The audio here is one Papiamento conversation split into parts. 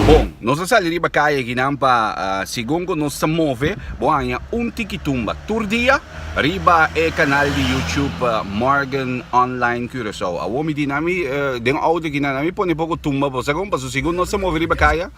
Bon, nos a sali riba kaya aki nan pa segun ku nos ta move bo haña un tiki tumba tur dia riba e kanal di YouTube Morgan Online Curaçao. Awor mi di nan mi den outo aki nan a mi pone poko tumba bo. Sa kon? Paso segun nos ta move riba kaya.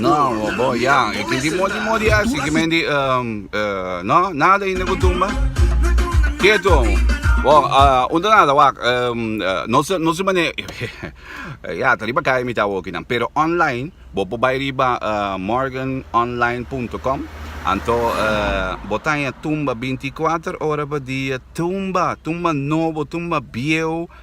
No, bo ya, e kiti moti moti asi ki mendi um, uh, no, nada inda ku tumba. Keto. Bo, uh, unda nada wak, um, uh, no se no se mane ya, ta riba kai mita woki nan, pero online, bo po bai riba uh, morganonline.com. Anto uh, bo taña tumba 24 ora pa dia, tumba, tumba nobo, tumba bieu,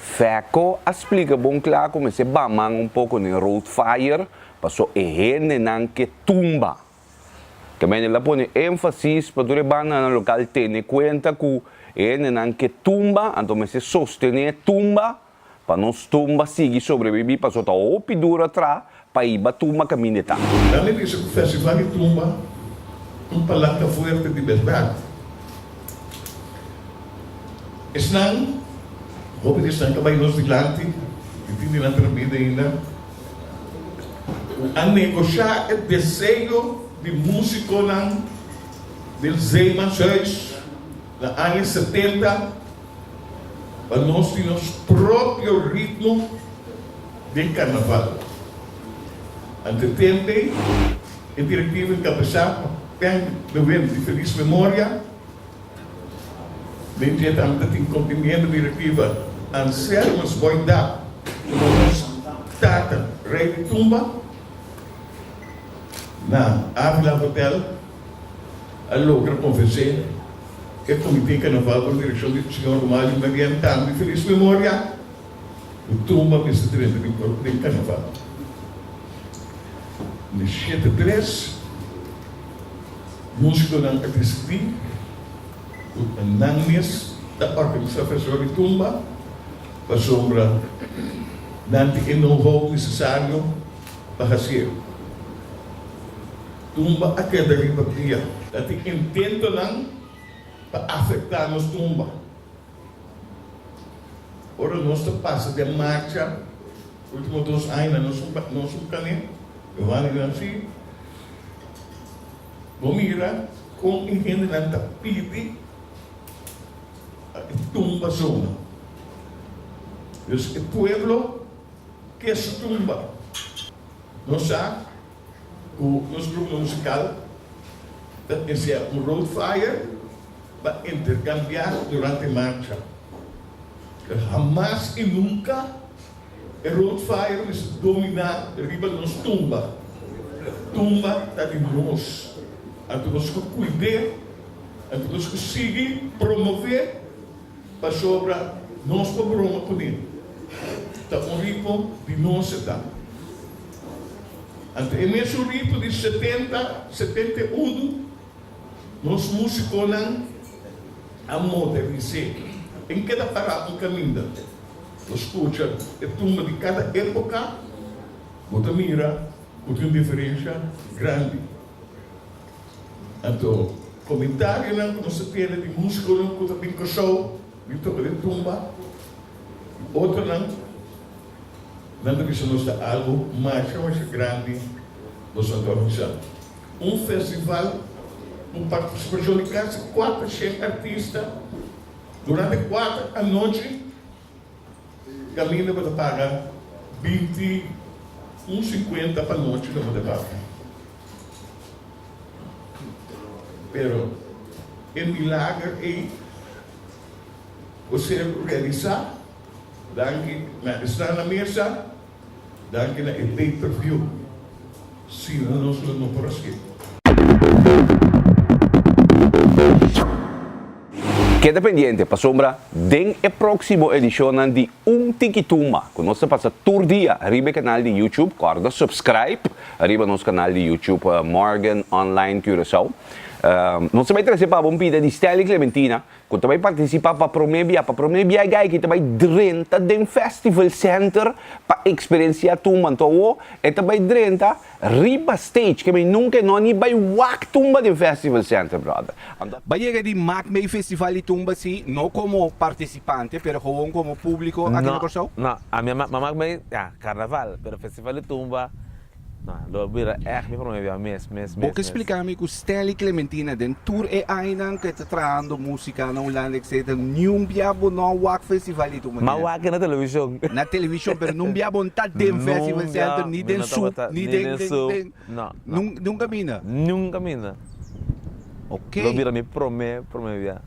Feco a splica bon cla cu mester baman un poco den road fire paso e hendenan ke tumba. Tambien el a pone enfasis pa tur e banda na local tene cuenta cu e hendenan ke tumba anto mester sostene tumba pa nos tumba sigui sobrebibi paso ta hopi duro atra Paiba tumba camineta. Nan me bisa cu festival di tumba un palanca fuerte di berdad. Esnan, hopi di esnan ca bay nos dilanti, mi tin di nan tra bida ainda, cu a negocia e deseo di musiconan del Zeemanshuis na aña setenta pa nos tin nos propio ritmo. den Carnaval. Ante tempe e directivo e cabesá pa Ben de Win di feliz memoria. Mientretanta tin cumplimiento directiva Anselmus Boinda como nos tata rey di tumba na Avila Hotel a logra convence e comite Carnaval bajo direccion di señor Romario Merien tambe di feliz memoria. Bo tuma mester trenta mil dòler den karnaval. Di shete a tres, músikonan a desidí ku nan mes ta organisá festival di tumba pasobra nan tin e know-how nesesario pa hasié e. Tumba a keda riba bia. Ta tin intentonan pa afektá nos tumba. Ora nos ta pasa den marcha ultimo dos aña nos nos un kane Giovanni di Nancy bo mira kon e hendenan ta pidi pa e tumba zona dus e pueblo ke su tumba nos sa Ku nos grupo musikal ta misiá ku Road Fire ta interkambiá durante marcha. Hamas i nunka e Road Fire mester dominá riba nos tumba. Tumba ta di nos. Anto nos ku kuid'é, anto nos ku sigui promové pasobra nos por broma kuné. Ta un ripo di nos e ta. Anta e mesurito di setenta, setenta i unu, nos musiconan a modernis'é. Tin keda pará un caminda. Bo scucha e tumba di cada epoca, bo ta mira cu tin un diferencia grandi. Anto, comentarionan cu nos a tene di musiconan cu ta bin Cusau, bin toca den tumba, y otronan, Nan ta bisa nos ta algu masha masha grandi nos nan ta organisa. Un festival ku partisipacion di kasi kuater shen artista durante kuater anochi kaminda bo ta paga binti un sinkuenta pa nochi lo bo ta paga. Pero e milager ey por ser realisa. Danki na esnan na mesa, danki na e pay per view, sina nos lo no por a skip. Keda pendiente pasobra den e próksimo edishonnan di Un Tiki Tumba ku nos ta pasa tur dia riba e kanal di YouTube, kòrda subscribe riba nos kanal di YouTube Morgan Online Curaçao. Nos ta bai trese pa bo un bida di Stanley Clementina. ku ta bai partisipá pa promé bia. Pa promé bia e gayki ta bai drenta den Festival Center pa eksperensiá tumba. Anto awo e ta bai drenta riba stage. Ke mei nunka e no a ni bai wak tumba den Festival Center, brother. Ba yega di mak mei festival di tumba si no komo partisipante pero gewoon komo públiko aki na Kòrsou? No, no. Ami a mak mei, ya, karnaval, pero festival di tumba Lo bira èg mi promé bia mes, mes, mes, Bo ke mes. splika mi ku Stanley Clementina den tur e ainan ku e ta trahando musika na Hulanda etcetera niun bia bo no a wak festival di tu manera? M'a wak na televishon. Na televishon pero nun bia bo n'ta den festival center ni den sup ni den den den nun nun kaminda? Nun kaminda. Ok. Lo bira mi promé promé bia.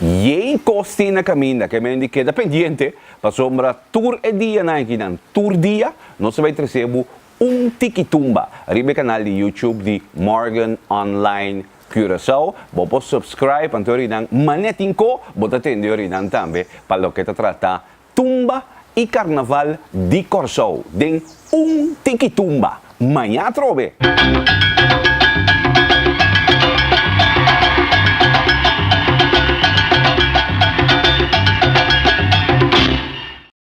Yey kos tin na kaminda ke men di keda pendiente pasobra tur e dianan kinan tur dia Nos ta bai trese bo un tiki tumba riba e kanal di YouTube di Morgan Online Curaçao. Bo por subscribe anto orinan manera tin ko bo ta tende orinan tambe pa loke ta trata tumba y carnaval di Corsou den un tiki tumba. Maña atrobe!